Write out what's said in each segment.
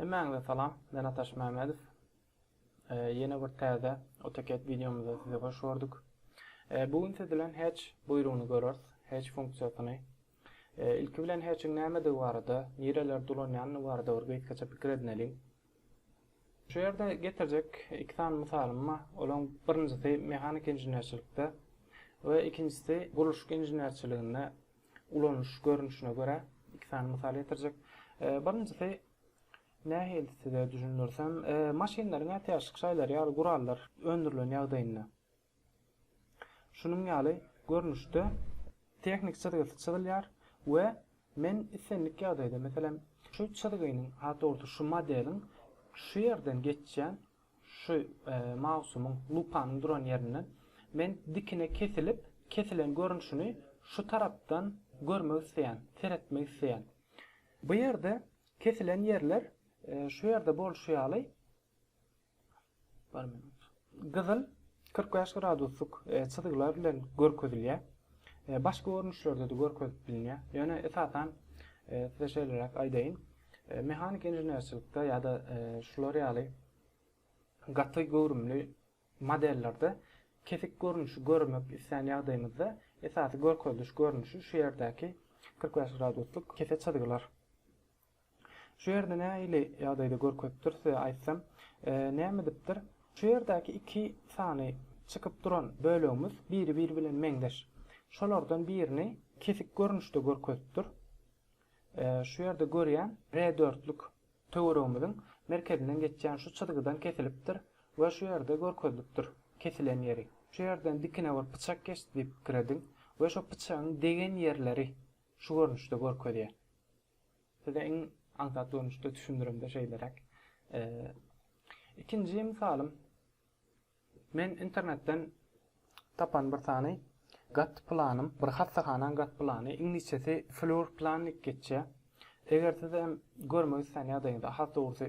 Hemmäňize salam, men Ataş Mämedow. Ýene bir täze AutoCAD wideomyzda sizi hoş gördük. Bu gün siz bilen Hatch buýrugyny göreris, Hatch funksiýasyny. Ilki bilen Hatchiň nämedigi barada, nirelerde ulanýandygy barada bir gysgaça pikir edineliň. Şu ýerde getirjek iki sany mysalym bar. Olaryň birinjisi mehanik inženerçilikde we ikinjisi gurluşyk inženerçiliginde ulanylyş görnüşine görä iki sany mysal getirjek. Birinjisi nähili size düşündirsem, maşynlaryň ätiýaçlyk şaýlary ýaly gurallar öndürilen ýagdaýynda. Şunuň ýaly görnüşde tehnik çyzgysy çyzylýar we men islendik ýagdaýda, meselem, şu çyzgynyň, has dogrusy, şu modeliň şu ýerden geçýän, şu mausumyň, lupanyň duran ýerinden men dikine kesilip, kesilen görnüşini şu tarapdan görmek isleýän, seretmek isleýän. Bu ýerde kesilen ýerler şu ýerde bolşy ýaly Gyzyl kyrk bäş graduslyk çyzgylar bilen görkezilýär. Başga görnüşlerde-de görkezip bilinýär. Ýöne esasan size şeýleräk aýdaýyn. Mehanik inženerçilikde ýa-da şular ýaly gaty göwrümli modellerde kesik görnüşi görmek islän ýagdaýymyzda esasy görkeziliş görnüşi şu ýerdäki kyrk bäş graduslyk kese çyzgylar. Şu ýerde nähili ýagdaýda görkezipdir size aýtsam, näme edipdir? Şu ýerdäki iki sany çykyp duran bölegimiz biri-biri bilen meňzeş. Şolardan birini kesik görnüşde görkezipdir. Şu ýerde görýän R dörtlük töweregimiziň merkezinden geçýän şu çyzgydan kesilipdir we şu ýerde görkezilipdir kesilen ýeri. Şu ýerden dikine bir pyçak geçdi diýip pikir ediň we şo pyçagyň degen ýerleri şu görnüşde görkezýär. Size iň aňsat görnüşde düşündiremde şeýleräk. Ikinji mysalym men internetden tapan bir sany gat planym, bir hassahananyň gat plany, iňlisçesi floor plan diýip geçýär. Eger siz hem görmek islän ýagdaýyňyzda, has dogrusy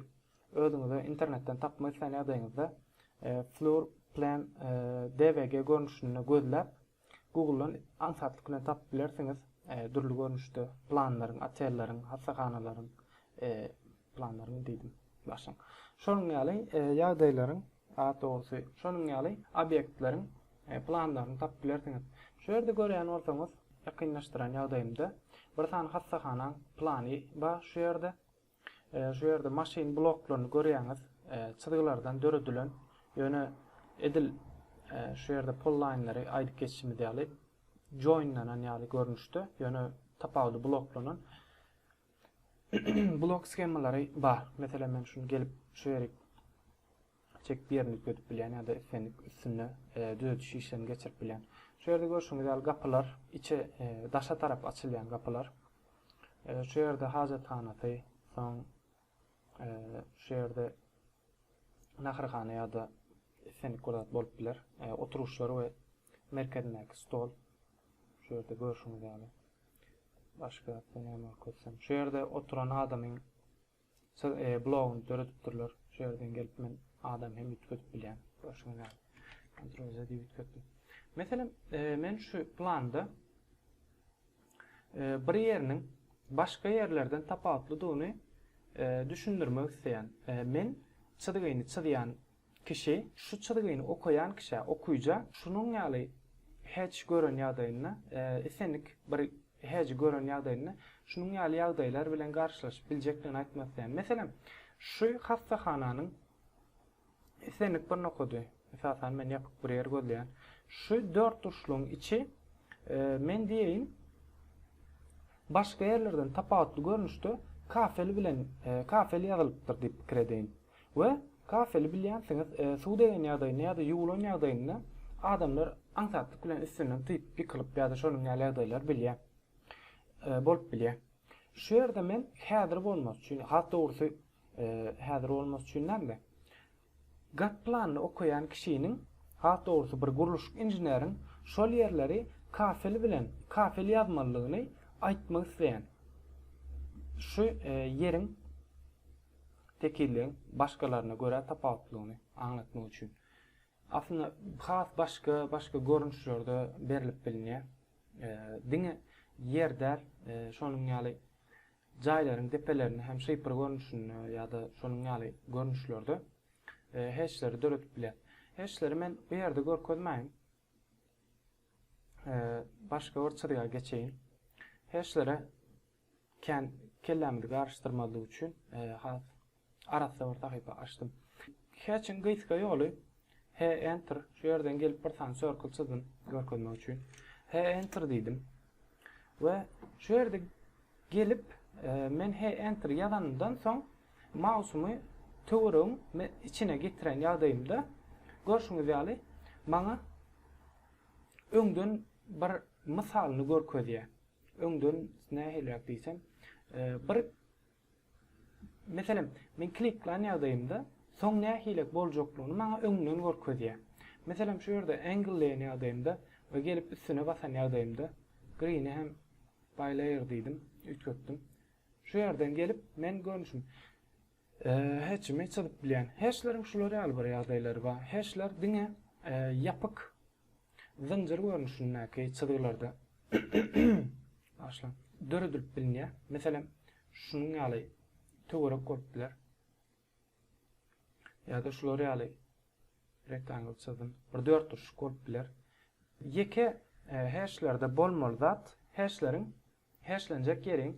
özüňize internetden tapmak islän ýagdaýyňyzda e, floor plan e, DVG görnüşinde gözläp Google-dan aňsatlyk bilen tapyp bilersiňiz, dürli görnüşde planlaryň, otelleriň, hassahanalaryň, planlaryň diýdim, başyň. Şonuň ýaly ýagdaýlaryň, has dogrusy, şonuň ýaly obýektleriň planlaryny tapyp bilersiňiz. Şu ýerde görýän bolsaňyz, ýakynlaşdyran ýagdaýymda bir sany hassahanaň plany bar şu ýerde. Şu ýerde maşyn bloklaryny görýäňiz, çyzgylardan döredilen, ýöne edil şu ýerde pollaýnlary aýdyp geçişimiz ýaly joinlanan ýaly görnüşde, ýöne tapawudy bloklanan blok skemalary bar. Meselem, men şuny gelip şu ýeri çekip ýerini üýtgedip bilýän ýa-da islendik üstünde düzediş işlerini geçirip bilýän. Şu ýerde görşüňiz ýaly gapylar içe daşa tarap açylýan gapylar. Şu ýerde hajathanasy, soň şu ýerde naharhana ýa-da islendik bir zat bolup biler. Oturyşlar we merkezindäki stol. Şu ýerde görşüňiz ýaly. Başga näme görkezsem. Şu ýerde oturan adamyň Siz e blogyny döredipdirler şu ýerden gelip men adam hem üýtgedip bilýän görşüňiz ýaly kontrol z diýip üýtgetdim. Meselem e, men şu planda e, bir ýeriniň başga ýerlerden tapawutlydygyny e, düşündirmek isleýän. E, men çyzgyny çyzýan Kişi, şu çyzgyny okaýan kişä, okyja, şunuň ýaly hej gören ýagdaýynda, isenik bir heji gören ýagdaýynda, şunuň ýaly ýagdaýlar bilen garşylaşyp biljekdigini aýtmak isleýän. Meselem, şu hassahananyň isenik bir nokady, esasan men ýapyk bir ýer gözleýän, şu dörtburçlugyň içi, men diýeýin, başga ýerlerden tapawutly görnüşde kafel bilen, kafel ýazylypdyr diýip pikir edeýin. We kafeli bilýänsiňiz suw degen ýagdaýynda ýa-da ýuwulan ýagdaýynda adamlar aňsatlyk bilen üstünden typ ýykylyp ýa-da şonuň ýaly ýagdaýlar bilýär. Bolup bilýär. Şu ýerde men häzir bolmasy üçin, has dogrusy häzir bolmasy üçin däl-de, gat planyny okaýan kişiniň, has dogrusy bir gurluşyk inženeriň şol ýerleri kafeli bilen, kafeli ýazmalydygyny aýtmak isleýän. Şu ýeriň tekilligiň başgalaryna görä tapawutlylygyny aňlatmak üçin. Aslynda has başga başga görnüşlerde berlip bilinýär. Diňe ýer däl, şonuň ýaly jaýlaryň depelerinde hem şypyr görnüşinde ýa-da şonuň ýaly görnüşlerde heşleri döredip bilýär. Heşleri men bu ýerde görkezmäýin. Başga bir çyzga geçeýin. Heşlere Kän kellämizi garyşdyrmazlyk üçin has arassa bir sahypa açdym. Hatch-iň gysga ýoly He Enter. Şu ýerden gelip bir sany circle çyzdym görkezmek üçin. He Enter diýdim. We şu ýerde gelip men He Enter ýazanymdan soň mausumy töweregiň içine getiren ýagdaýymda görşüňiz ýaly maňa öňden bir mysalyny görkezýär. Öňden nähiliräk diýsem, bir Meselem, men kliklan ýagdaýymda soň nähiliräk boljaklygyny maňa öňden görkezýär. Meselem, şu ýerde angle diýen ýagdaýymda we gelip üstüne basan ýagdaýymda, green-i hem by layer diýdim, üýtgetdim. Şu ýerden gelip, men görnüşim hatch-ymy çyzyp bilýän. Hatchleriň şular ýaly bir ýagdaýlary bar. Hatchler diňe ýapyk zynjyr görnüşindäki çyzgylarda döredilip bilinýär. Meselem, şunuň ýaly töwerek bolup biler. Ýa-da şular ýaly rektangl çyzdym. Bir dörtburçluk bolup biler. Ýeke heşlerde bolmaly zat heşleriň heşlenjek ýeriň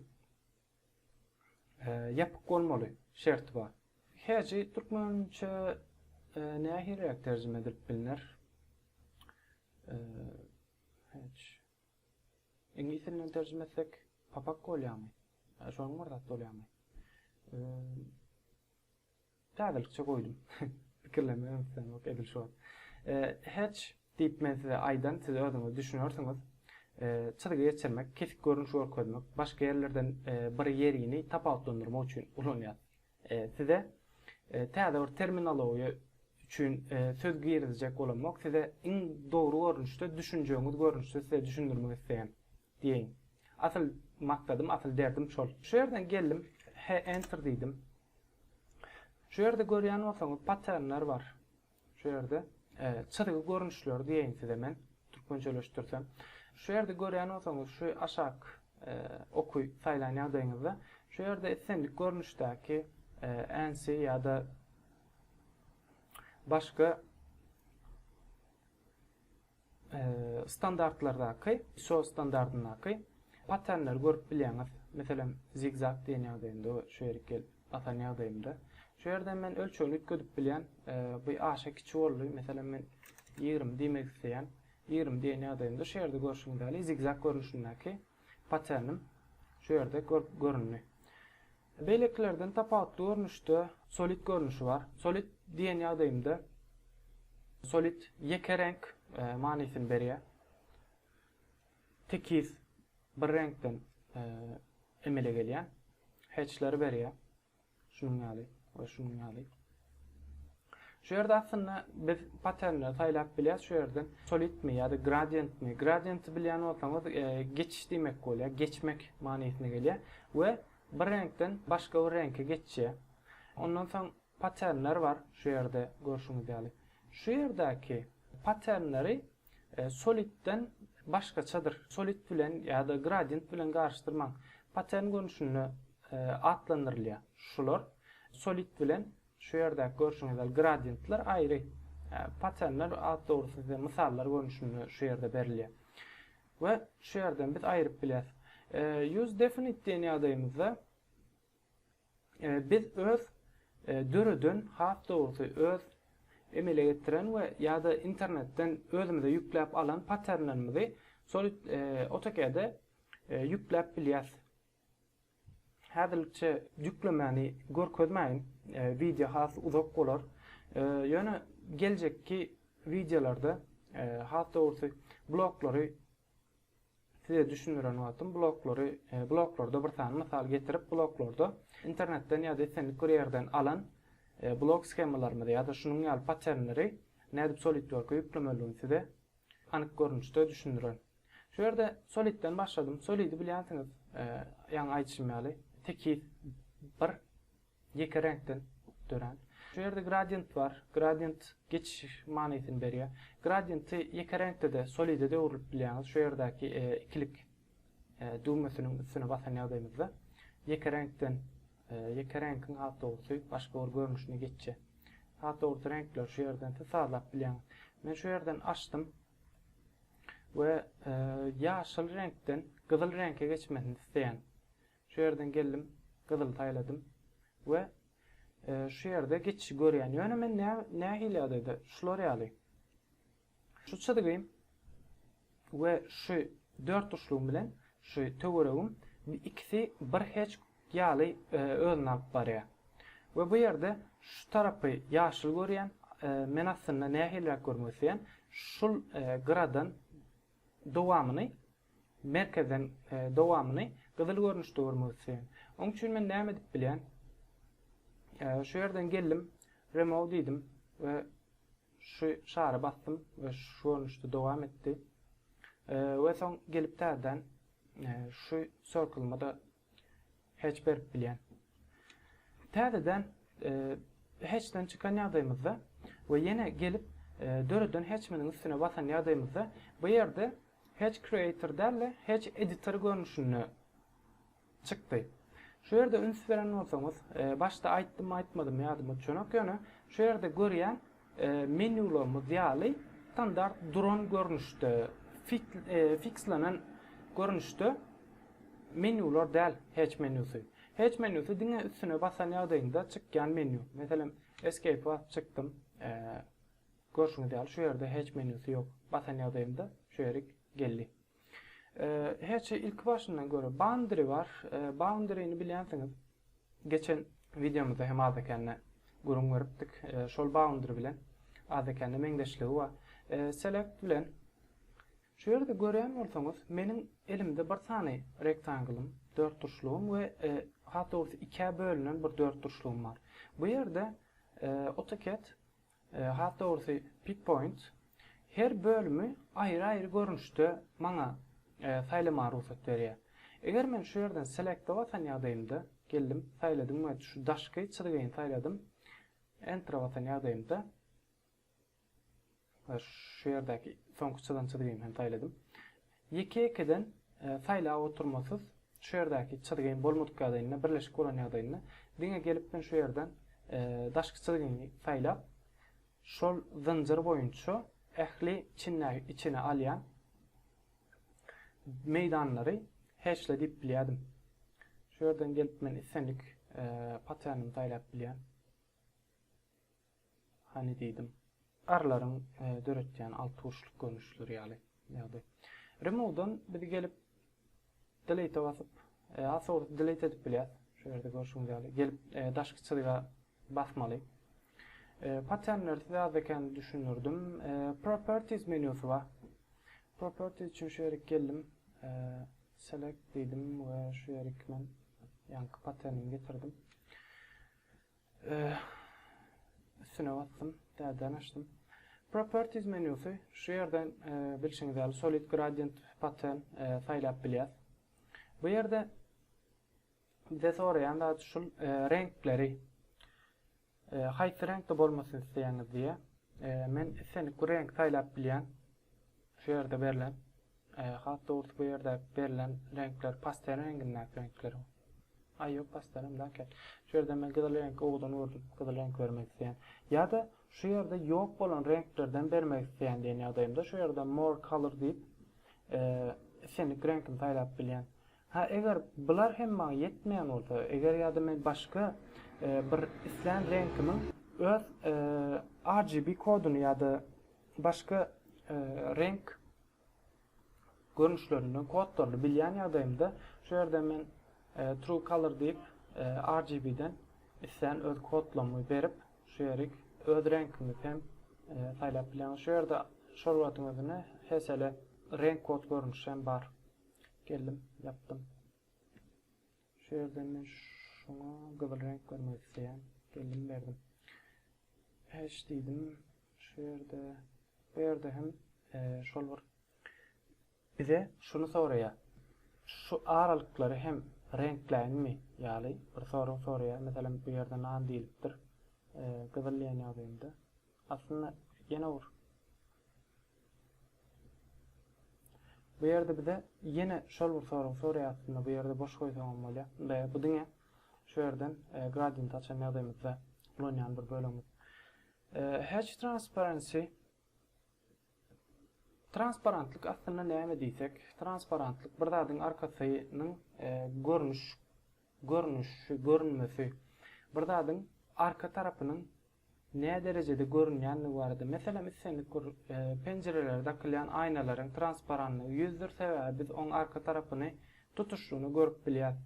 Ýapyk bolmaly şerti bar. Heji türkmençe nähiliräk terjime edilip bilner? Hedge. Iňlis dilinden terjime etsek papak bolýamy? Şonuň bir zat bolýamy? Täzelikçe goýdum. Pikirlenme öňüsdenok edil şu wagt. Hatch diýip men size aýdan, siz özüňiz düşünersiňiz. Çyzgy geçirmek, kesik görnüş görkezmek, başga ýerlerden bir ýerini tapawutlandyrmak üçin ulanýar. Size täze bir terminologiýa üçin söz girizjek bolamok, size iň dogry görnüşde, düşünjegiňiz görnüşde size düşündirmek isleýän diýeýin. Asyl maksadym, asyl derdim şol. Şu ýerden geldim, he enter diýdim. Şu ýerde görýän bolsaňyz paternler bar. Şu ýerde çyzgy görnüşleri diýeýin size men türkmençeleşdirsem. Şu ýerde görýän bolsaňyz şu aşak oky saýlan ýagdaýyňyzda şu ýerde islendik görnüşdäki änsi ýa-da başga standartlardaky, iso standardyndaky paternleri görüp bilýäňiz. Meselem, zigzag diýen ýagdaýynda we şu ýerik gelip basan ýagdaýymda. Şu ýerden men ölçegini üýtgedip bilýän. Bu aşa kiçi boldy. Meselem, men 20 diýmek isleýän. 20 diýen ýagdaýymda şu ýerde görşüňiz ýaly zigzag görnüşindäki paternim şu ýerde göründi. Beýlekilerden tapawutly görnüşde solit görnüşi bar. Solit diýen ýagdaýymda solit ýeke reňk manysyny berýär. Tekiz bir reňkden emele gelýän hatchleri berýär. Şunuň ýaly we şunuň ýaly. Şu ýerde aslynda biz paternleri saýlap bilýäs. Şu ýerden solidmi ýa-da gradientmi? Gradienti bilýän bolsaňyz, e, geçiş diýmek bolýar, geçmek manysyna gelýär we bir reňkden başga bir reňke geçýär. Ondan soň paternler bar, şu ýerde görşüňiz ýaly. Şu ýerdäki paternleri Solidden başgaçadyr. Solid bilen ýa-da gradient bilen garyşdyrmaň. Pattern görnüşinde atlandyrylýar şular. Solid bilen şu ýerdäki görşüňiz ýaly gradientler aýry. Patternler at dogrusy size mysallar görnüşinde şu ýerde berilýär. We şu ýerden biz aýryp bilýäris. Use definite diýen ýagdaýymyzda Biz öz döreden, has dogrusy, öz emele getiren we, ýa-da, internetden özümize ýükläp alan patternlerimizi şol AutoCAD-e ýükläp bilýäs. Häzirlikçe ýüklemäni görkezmäýin, wideo has uzak bolar. Ýöne geljekki wideolarda, has dogrusy, bloklary Size düşündiren wagtym bloklary, e, bloklarda bir sany mysal getirip, bloklarda internetden ýa-da islendik bir ýerden alan e, blok schemalarymyzy ýa-da şunuň ýaly paternleri nädip SolidWorks-a ýüklemeligini size anyk görnüşde düşündiren. Şu ýerde Solidden başladym. Solidi bilýänsiňiz, e, ýaňy aýdyşym ýaly, tekiz bir Ýeke reňkden dörän. Şu ýerde gradiýent bar. Gradiýent geçiş manysyny berýär. Gradiýenti ýeke reňkde-de, solide-de öwrülip bilýäňiz. Şu ýerdäki ikilik düwmesiniň üstüne basan ýagdaýymyzda ýeke reňkden, ýeke reňkiň has dogrusy başga bir görnüşine geçje. Has dogrusy reňkleri şu ýerden siz sazlap bilýäňiz. Men şu ýerden açdym we ýaşyl reňkden gyzyl reňke geçmesini isleýän. Şu ýerden geldim, gyzyl saýladym we şu ýerde geçişi görýän. Ýöne men nähili ýagdaýda? Şular ýaly. Şu çyzgym we şu dörtburçlugym bilen şu töweregim ikisi bir heçk ýaly özüni alyp barýar. We bu ýerde şu tarapy ýaşyl görýän, men aslynda nähiliräk görmek isleýän, şul gyradan Dowamyny merkezden dowamyny gyzyl görnüşde görmek isleýän. Oň üçin men näme edip bilýän? Şu ýerden geldim, remove diýdim we şu şary basdym we şu görnüşde dowam etdi. We soň gelip täzeden şu circle-ymy-da Heç berip bilýän. Täzeden heçden çykan ýagdaýymyzda we ýene gelip döreden heçminiň üstüne basan ýagdaýymyzda bu ýerde heç creator däl-de heç editor görnüşinde çykdy. Şu ýerde üns beren bolsaňyz, başda aýtdymmy aýtmadymmy ýadyma düşenok ýöne şu ýerde görýän Menularymyz ýaly, standart duran görnüşde, fikslenen görnüşde menular däl Hatch menusy. Hatch menusy diňe üstüne basan ýagdaýyňda çykýan menu. Meselem, Escape-e basyp çykdym. Görşüňiz ýaly, şu ýerde Hatch menusy ýok. Basan ýagdaýymda şu ýerik geldi. Her şey ilki başyndan göre boundary bar. Boundary-ni bilýänsiňiz. Geçen wideomyzda hem azakende gürrüň beripdik. Şol boundary bilen azakende meňzeşligi bar. Select bilen Şu ýerde görýän bolsaňyz, meniň elimde bir sany rektanglym, dörtburçlugym we has dogrusy ikä bölünen bir dörtburçlugym bar. Bu ýerde AutoCAD Has dogrusy Pippoint her bölümi aýry-aýry görnüşde maňa saýlamaga rugsat berýär. Eger men şu ýerden Select-e basan ýagdaýymda, geldim, saýladym we şu daşky çyzgyny saýladym, Enter-e basan ýagdaýymda we şu ýerdäki soňky çyzan çyzgymy hem saýladym. Ýeke-ýekeden saýlap oturmasyz, şu ýerdäki çyzgyň bolmadyk ýagdaýynda, birleşik bolan ýagdaýynda, diňe gelip men şu ýerden daşky çyzgyňy saýlap, şol zynjyr boýunça ähli çinleri içine alýan meýdanlary heçle diýip bilýärdim. Şu ýerden gelip men islendik paternimi saýlap bilýän. Hany diýdim. Garlaryň döretýän altburçluk görnüşleri ýaly ýagdaý. Remove-dan biz gelip delete basyp, az sowruk delete edip bilýäs. Şu ýerde görşüňiz ýaly gelip daşky çyzyga basmaly. Patternleri size az ekeni düşündirdim. Properties menýusy bar. Properties üçin şu ýerik geldim. Select diýdim we şu ýerik men ýaňky patternimi getirdim. Üstüne basdym, täzeden açdym. Properties menýusy, şu ýerden bilşiňiz ýaly solid gradient pattern saýlap bilýäs. Bu ýerde bize soraýan zat şul reňkleri haýsy reňkde bolmasyn isleýäňiz diýýär. Men islendik bir reňki saýlap bilýän. Şu ýerde berlen. Has dogrusy bu ýerdäki berlen reňkler pastel reňgindäki reňkler. Aý ýok pastel hem däl eken. Şu ýerde men gyzyl reňki owadan gördüm. Gyzyl reňki bermek isleýän. Ýa-da şu ýerde ýok bolan reňklerden bermek isleýän diýen ýagdaýymda şu ýerde more color diýip islendik reňkimi saýlap bilýän. Ha eger bular hem maňa ýetmeýän bolsa, eger ýa-da men başga bir islän reňkimiň öz RGB koduny ýa-da başga reňk görnüşlerinden kodlaryny bilýän ýagdaýymda şu ýerden men e, true color diýip e, RGB-den islän öz kodlarymy berip şu ýerik öz reňkimi hem e, saýlap bilýän. Şu ýerde şol wagtyň özüne HSL renk kod görnüşi hem bar. Geldim, ýapdym. Şu ýerden men şuňa gyzyl reňk bermek isleýän. Geldim berdim. Patch diýdim. Şu ýerde bu ýerde hem şol bir bize şuny soraýar. Şu aralyklary hem reňkläýinmi ýaly bir sorag soraýar. Meselem bu ýerde nan diýlipdir. Gyzyl diýen ýagdaýynda. Aslynda ýene bir Bu ýerde bize ýene şol bir soragy soraýar aslynda. Bu ýerde boş goýsaňam bolýar. Ynda bu diňe şu ýerden e, gradient açan ýagdaýymyzda ulanýan bir bölegimiz. E, Hatch transparency Transparentlik aslynda näme diýsek, transparentlik bir zadyň arkasynyň e, görnüş görnüşi, görünmesi. Bir zadyň arka tarapynyň näderejede görünýändigi barada, meselem, islendik bir penjirelere dakylýan aýnalaryň transparanlygy ýüzdür, sebäbi biz oň arka tarapyny tutuşlygyna görüp bilýäs.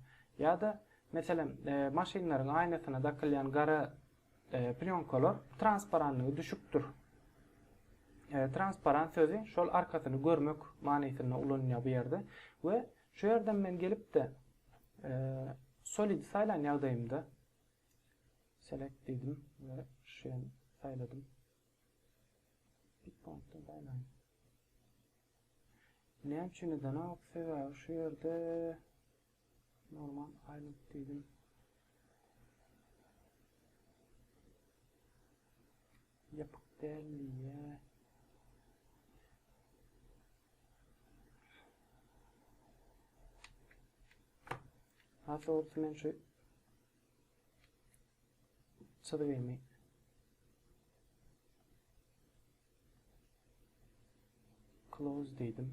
Ýa-da, meselem, maşynlaryň aýnasyna dakylýan gara plýonkalar transparanlygy düşükdir. Transparan sözi şol arkasyny görmek manysynda ulanylýar bu ýerde we şu ýerden men gelip-de solidi saýlan ýagdaýymda, Select diýdim we şuýan saýladym. Pikpointden saýlaýyn. Näme üçin edenok? Sebäbi şu ýerde normal island diýdim. Ýapyk däl diýýär. Hatta olsun men şu Çyzgymy. Close diýdim.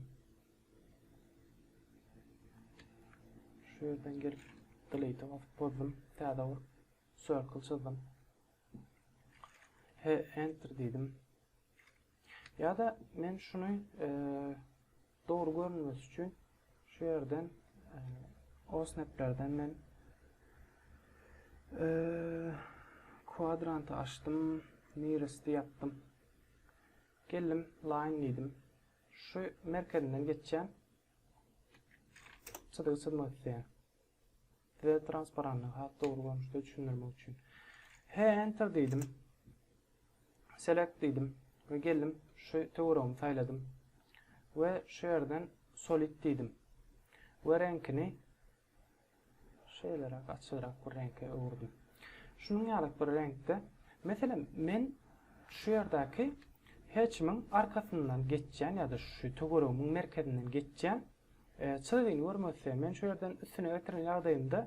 Şu ýerden gelip delete basyp bozdum. Täze bir circle çyzdym. He, enter diýdim. Ýa-da men şuny e, Dogry görünmesi üçin şu ýerden osnaplerden men kwadranty açdym, nearest ýapdym. Geldim, line diýdim. Şu merkezinden geçýän çyzygy çyzmak isleýän. Size transparanny has dogry görnüşde düşündirmek üçin. He, enter diýdim. Select diýdim we geldim şu töweregimi saýladym. We şu ýerden solid diýdim. We reňkini şeýleräk açygrak bir reňke öwürdim. Şunuň ýaly bir reňkde, meselem, men şu ýerdäki hatchimiň arkasyndan geçýän ýa-da şu töweregimiň merkezinden geçýän Çyzygyny görmezse, men şu ýerden üstüne getiren ýagdaýymda,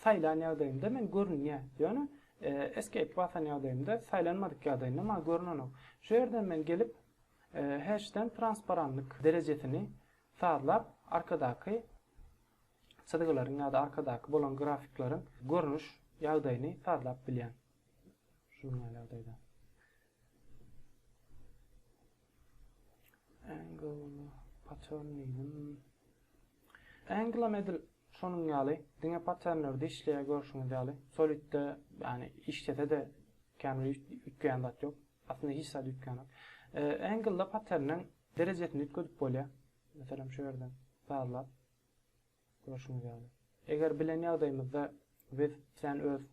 saýlan ýagdaýymda men görünýä, ýöne Escape basan ýagdaýymda, saýlanmadyk ýagdaýynda maňa görünenok. Şu ýerden men gelip, Hash'den transparanlyk derejesini sazlap, arkadaky çyzgylaryň ýa-da arkadaky bolan grafikleriň görnüş ýagdaýyny sazlap bilýän. Şunuň ýaly ýagdaýda. Angle paternigim. Anglam edil şonuň ýaly, diňe paternlerde işleýär görşüňiz ýaly. Solidde, ýani işlese-de känbir üýtgeýän zat ýok. Aslynda hiç zat üýtgänok. Angle-da paterniň derejesini üýtgedip bolýar. Meselem, şu ýerden sazlap görşüňiz ýaly. Eger bilen ýagdaýymyzda biz sen öz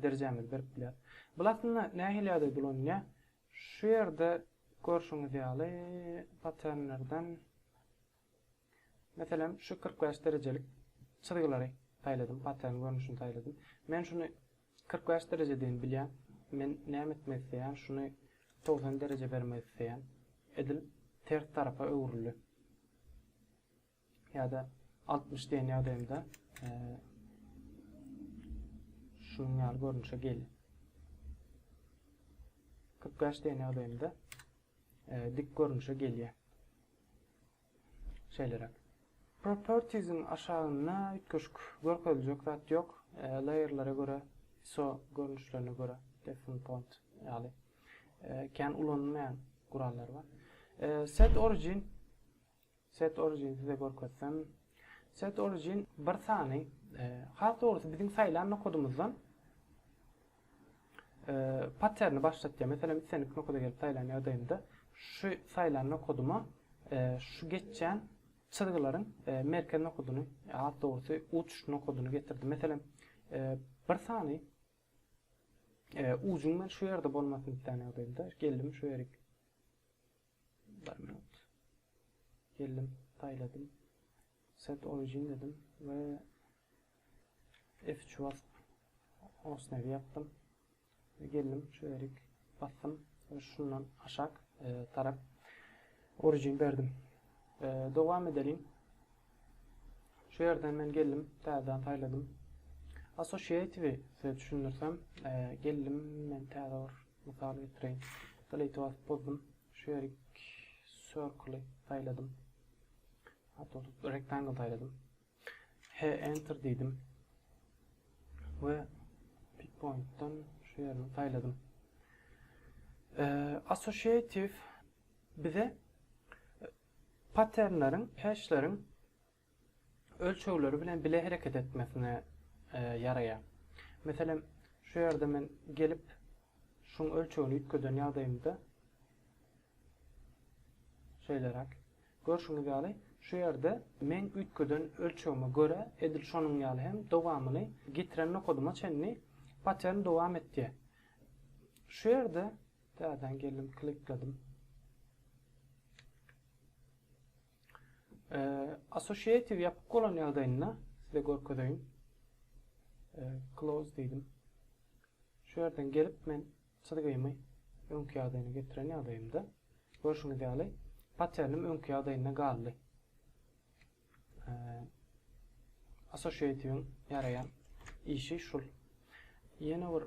derejämizi berip bilýär. Bul aslynda nähili ýagdaý dolanýar? Şu ýerde görşüňiz ýaly paternlerden meselem şu 45 derejelik çyzgylary saýladym, patern görnüşini saýladym. Men şuny 45 dereje deýin bilýän. Men näme etmek isleýän? Şuny 90 dereje bermek isleýän. Edil ters tarapa öwrüldi. ýa-da altmyş diýen ýagdaýymda şunuň ýaly görnüşe gelýär. Kyrk bäş diýen ýagdaýymda dik görnüşe gelýär. Şeýleräk. Propertiesiň aşagynda üýtgeşik görkeziljek zat ýok. Layerlere görä, ISO görnüşlerine görä, Define Point ýaly kän ulanylmaýan gurallar bar. Set Origin Set origin size görkezsem. Set origin bir sany has dogrusy biziň saýlan nokodymyzdan patterni başlatýar. Meselem islendik nokoda gelip saýlan ýagdaýymda şu saýlan nokodyma şu geçýän çyzgylaryň merkez nokodyny has dogrusy uç nokodyny getirdi. Meselem bir sany ujuň men şu ýerde bolmasyny isleýän ýagdaýymda geldim şu ýerik Bir minut. Geldim, saýladym. Set origin dedim we F3 basyp osnawy ýapdym. Geldim, şu ýerik basdym we şundan aşak e, tarap origin berdim. E, dowam edelim. Şu ýerden men geldim, täzeden saýladym. Associative size düşündirsem, e, geldim men täze bir Mysal getireýin. Delete basyp bozdum. Şu ýerik circle-y saýladym. Hatda tutup rectangle saýladym. He enter diýdim. We pick point-dan şu ýerini saýladym. Associative bize patternleriň, hashleriň ölçegleri bilen bile hereket etmesine ýaraýar. Meselem, şu ýerde men gelip, şuň ölçegini üýtgeden ýagdaýymda, şeýleräk, görşüňiz ýaly, şu ýerde meň üýtgeden ölçegime görä, edil şonuň ýaly hem dowamyny getiren nokadyma çenli patern dowam etýär. Şu ýerde täzeden geldim, klikledim. Associative ýapyk bolan ýagdaýynda size görkezeýin. Close diýdim. Şu ýerden gelip men çyzgymy öňki ýagdaýyna getiren ýagdaýymda görşüňiz ýaly patternim öňki ýagdaýynda galdy. Associative-iň ýaraýan işi şul. Ýene bir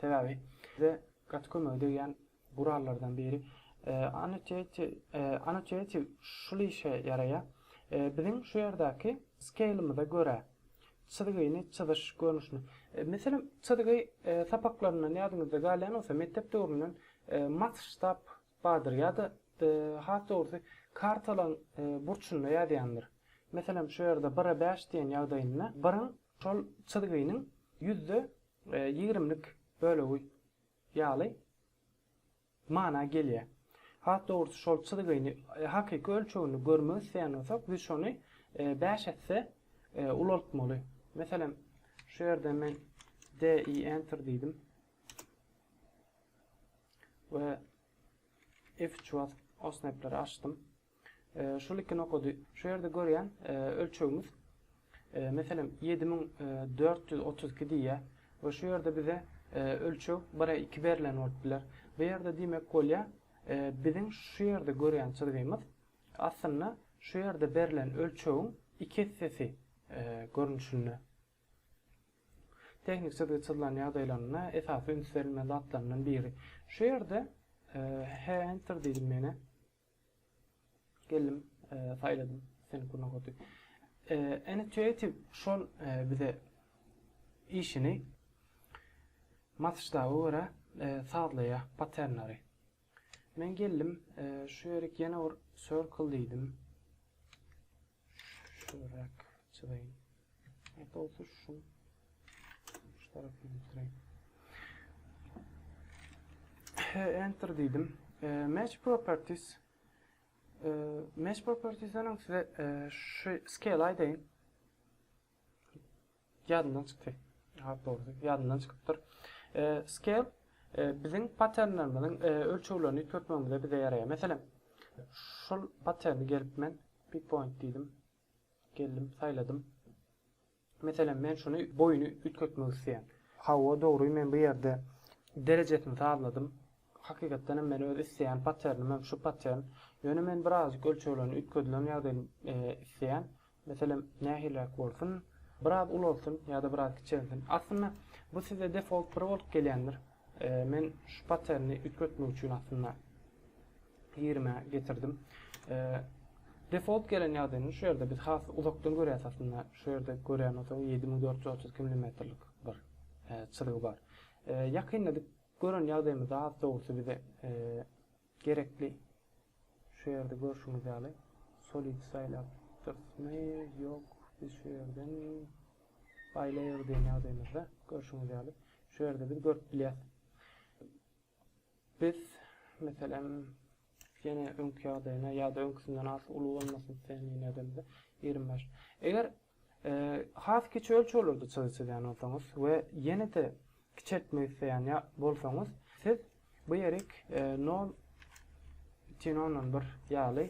Sebäbi bize gaty kömege degýän gurallardan biri Annotative şul işe ýaraýar. Biziň şu ýerdäki skeýlimize görä çyzgyny çyzyş görnüşini, meselem, çyzgy sapaklaryndan ýadyňyzda galýan bolsa, mekdep döwründen masştab bardyr ýa-da has dogrusy kartalaň burçunda ýazýandyr. Meselem, şu ýerde bire bäş diýen ýagdaýynda biriň Şol çyzgynyň ýüzde ýigrimlik bölegi ýaly mana gelýär. Has dogrusy şol çyzgyny hakyky ölçeginde görmek isleýän bolsak, biz şony bäş esse ulaltmaly. Meselem, şu ýerden men DI Enter diýdim we F3 basyp, OSNAP-leri açdym. Şol iki nokady şu ýerde görýän ölçegimiz meselem ýedi müň dört ýüz otuz iki diýýär we şu ýerde bize ölçeg bir e iki berlen bolup biler. Bu ýerde diýmek bolýar biziň şu ýerde görýän çyzgymyz aslynda şu ýerde berlen ölçegiň iki essesi görnüşinde. Tehnik çyzgy çyzylan ýagdaýlarynda esasy üns berilmeli zatlaryndan biri. Şu ýerde he enter diýdim ýene. Geldim, e, saýladym seni bu nokaty. E, Intuitive şol e, bize işini masştaba görä e, sazlaýar patternleri. Men geldim, e, şu ýerik ýene bir circle diýdim. Şurak çyzaýyn. Ýa bolsa şu şu tarapyny bitireýin. Enter diýdim. Match properties. Match propertiesden öň size şu scale aýdaýyn. Ýadymdan çykdy. Has dogrusy, ýadymdan çykypdyr. E, scale e, biziň patternlerimiziň e, ölçeglerini üýtgetmegimizde bize ýaraýar. Meselem, şul patterni gelip men pick point diýdim. Geldim, saýladym. Meselem, men şuny boýuny üýtgetmek isleýän. Hawa, dogry, men bu ýerde derejesini sazladym. Hakykatdan hem men öz isleýän patternim hem şu pattern. Ýöne men birazajyk ölçeglerini üýtgedilen ýagdaýyny e, isleýän. Meselem, nähiliräk bolsun, biraz ulalsyn ýa-da biraz kiçelsin. Aslynda, bu size default bir bolup gelýändir. Men şu patterni üýtgetmek üçin aslynda ýigrime getirdim. Default gelen ýagdaýynda şu ýerde biz has uzakdan görýäs aslynda. Şu ýerde görýän bolsaň, ýedi müň dört ýüz otuz iki milimetrlik bir çyzgy bar. Ýakynda dip gören ýagdaýymyzda az dogrusy bize Gerekli. Şu ýerde görşüňiz ýaly solid saýlapdyrysmy, ýok, biz şu ýerden baýlaýarys diýen ýagdaýymyzda, görşüňiz ýaly, şu ýerde biz görüp bilýäs. Biz, meselem, ýene öňki ýagdaýyna ýa-da öňküsinden az uly bolmasyn islän ýene edemizde, ýigrimi bäş. Eger Has kiçi ölçeglerde çyzyk çyzýan bolsaňyz we ýene-de kiçeltmek isleýän ýa bolsaňyz, siz bu ýerik nol butyn ondan bir ýaly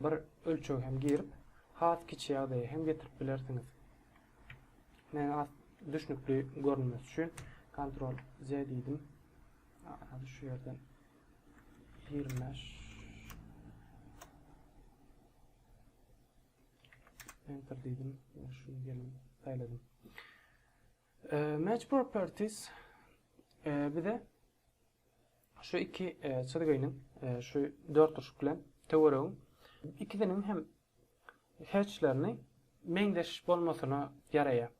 bir ölçeg hem girip, has kiçi ýagdaýa hem getirip bilersiňiz. Men has düşnükli görünmesi üçin Ctrl Z diýdim. Hadi şu ýerden 25 Enter diýdim. Şu ýerini saýladym. Match properties bize şu iki çyzgynyň şu dört urşuk bilen töweregiň ikisiniň hem hatchlerini meňzeş bolmasyna ýaraýar.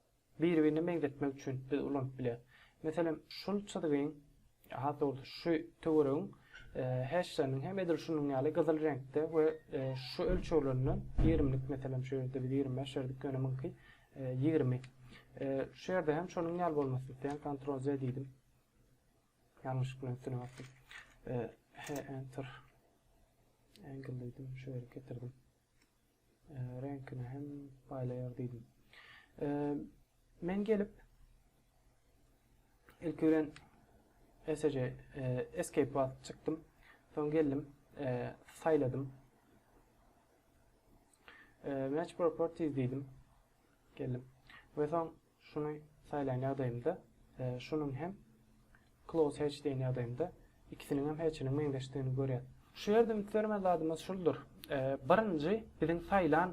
Bir-birine meňzetmek üçin biz ulanyp bilýäs. Meselem, şul çyzgyň, has dogrusy, şu töweregiň heşleriniň hem edil şunuň ýaly gyzyl reňkde we şu ölçeglerinden ýigrimlik, meselem, şu ýerde biz ýigrimi bäş berdik, ýöne muňky ýigrimi. Şu ýerde hem şonuň ýaly bolmasyny isleýän, Ctrl Z diýdim. Ýalňyşlyk bilen üstüne basdym. He, Enter. Angle diýdim, şu ýere getirdim. Reňkini hem baýlaýar diýdim. Men gelip ilk bilen SJ escape basyp çykdym. Soň geldim, saýladym. Match properties diýdim. Geldim. Ve soň Şuny saýlan ýagdaýymda, şunuň hem close hatch diýen ýagdaýymda ikisiniňem hatchiniň meňzeşdigini görýäs. Şu ýerde üns bermeli zadymyz şuldur. Birinji biziň saýlan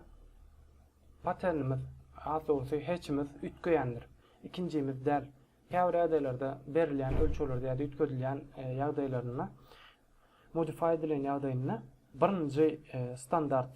patternimiz, has dogrusy hatchimiz üýtgeýändir. Ikinjimiz däl. Käbir ýagdaýlarda berilýän ölçeglerde ýa-da üýtgedilýän ýagdaýlarynda, modify edilen ýagdaýynda birinji standart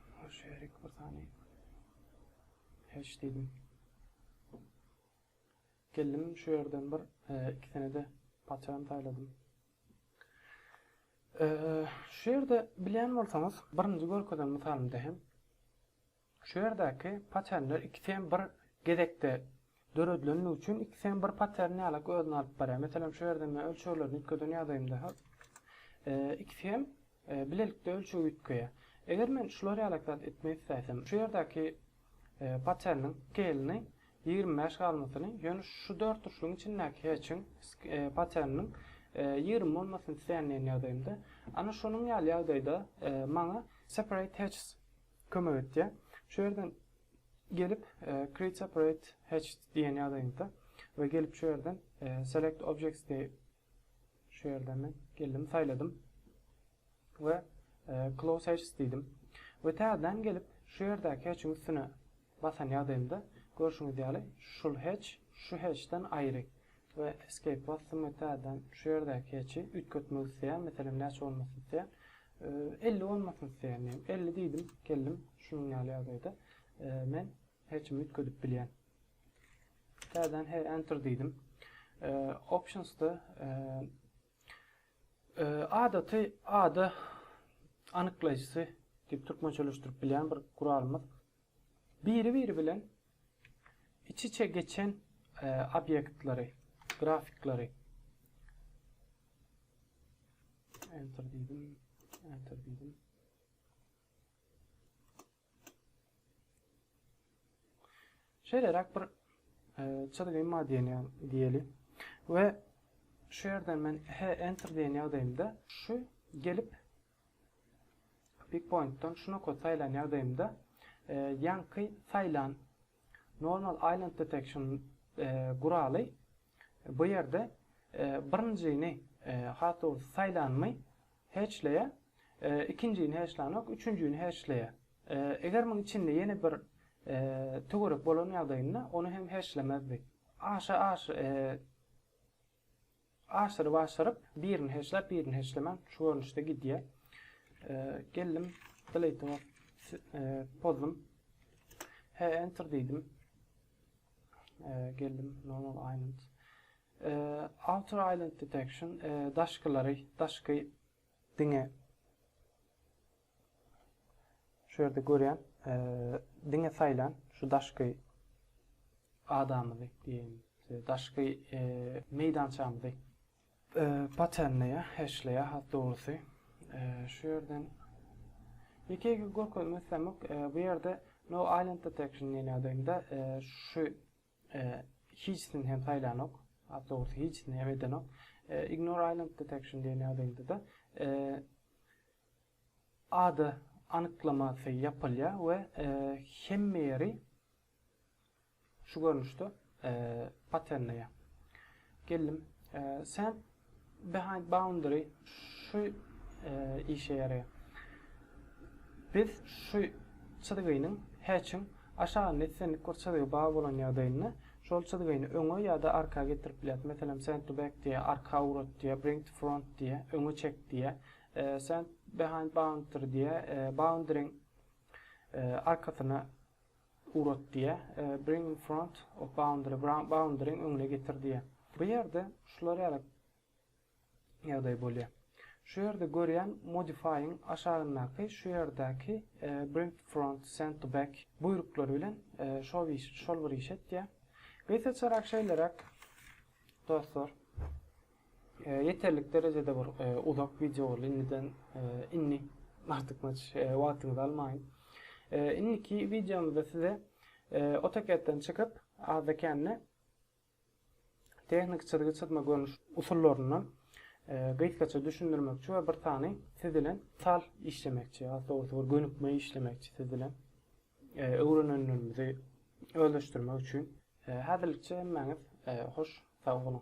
Her şerik bir sany Heş diýdim. Geldim şu ýerden bir ikisini-de patyram saýladym. Şu ýerde bilýän bolsaňyz, birinji görkezen mysalymda hem şu ýerdäki patyramlar ikisi hem bir gezekde Döredileni üçin iki sany bir patern ýalak özüni alyp barýar. Meselem şu ýerde men ölçeglerini üýtgeden ýagdaýymda hop. Ikisi hem bilelikde ölçegi üýtgeýär. Eger men şular ýalak zat etmek isläsem, şu ýerdäki paterniň skeýlini ýigrimi bäş galmasyny, ýöne şu dört uçluň içindäki heçiň paterniniň ýigrimi bolmasyny isleýän diýen ýagdaýymda, ana şonuň ýaly ýagdaýda maňa separate hatches Kömek etýär. Şu ýerden gelip create separate hatched diýen ýazaýyňda we gelip şu ýerden select objects diýip şu ýerden men geldim saýladym we close hatches diýdim. We täzeden gelip şu ýerdäki hatchiň üstüne Basan ýagdaýymda, görşüňiz ýaly, şul heç şu heçden aýry we escape basdym we täzeden şu ýerdäki heçi üýtgetmek isleýän, meselem näçe bolmasyn isleýän, elli bolmasyn isleýän diýeýin, elli diýdim, geldim, şunuň ýaly ýagdaýda men heçimi üýtgedip bilýän. Täzeden he enter diýdim. Optionsda adaty ada anyklaýjysy diýip türkmençeleşdirip bilýän bir guralymyz. Biri-biri bilen iç-içe geçen obýektleri, grafikleri, Enter diýdim, Enter diýdim. Şeýleräk bir çyzgy modeli diýeli we şu ýerden men H Enter diýen ýagdaýymda şu gelip Pikpointdan şu nokat saýlan ýagdaýymda ýaňky saýlan Normal Island Detection guraly bu ýerde birinjini has dogrusy saýlanymy heçleýär, ikinjini heçlänok, üçünjini heçleýär. Eger muň içinde ýene bir töwerek bolan ýagdaýynda ony hem heçlemezdi. Aşa aşa. Aşyryp aşyryp birini heçläp birini heçlemän şu görnüşde gidýär. Geldim delete pozdum. He enter diýdim. Geldim normal island. Outer island detection daşkylary daşky diňe Şu ýerde görýän, diňe saýlan şu daşky adamyzy diýen, daşky meýdançamyzy patenleýä, heşleýä has dogrusy. Şu ýerden ýeke ýeke görkezmek islämok. Bu ýerde no island detection diýen ýagdaýynda şu hiçsini hem saýlanok. Has dogrusy hiçsini hem edenok. Ignore island detection diýen ýagdaýynda-da Ada anyklamasy ýapylýar we hemme ýeri şu görnüşde patenleýär. Geldim. Sen behind boundary şu işe ýaraýar. Biz şu çyzgynyň hatch-iň aşagynda islendik bir çyzgy bar bolan ýagdaýynda şol çyzgyny öňe ýa-da arka getirip bilýäris. Meselem, send to back diýýär, arka ugrat diýýär, bring to front diýýär, öňe çek diýýär. Send behind boundary diýýär. Boundary-iň arkasyna ugrat diýýär. Bring in front of boundary, boundary-iň öňüne getir diýýär. Bu ýerde şular ýaly ýagdaý bolýar. Şu ýerde görýän modify-iň aşagyndaky şu ýerdäki bring to front, send to back buýruklary bilen şol bir iş etýär. Gysgaçarak şeýleräk dostlar. Ýeterlik derejede bir uzak wideo boldy. Indiden indi artykmaç wagtyňyzy almaýyn. Indiki wideomyzda size AutoCAD-den çykyp, azda-kände tehniki çyzgy çyzma görnüş usullaryndan gysgaça düşündirmekçi we bir sany siz bilen mysal işlemekçi, ýa-da dogrusy bir gönükme işlemekçi siz bilen. Öwrenenlerimizi özleşdirmek üçin. Häzirlikçe hemmäňiz hoş sag boluň.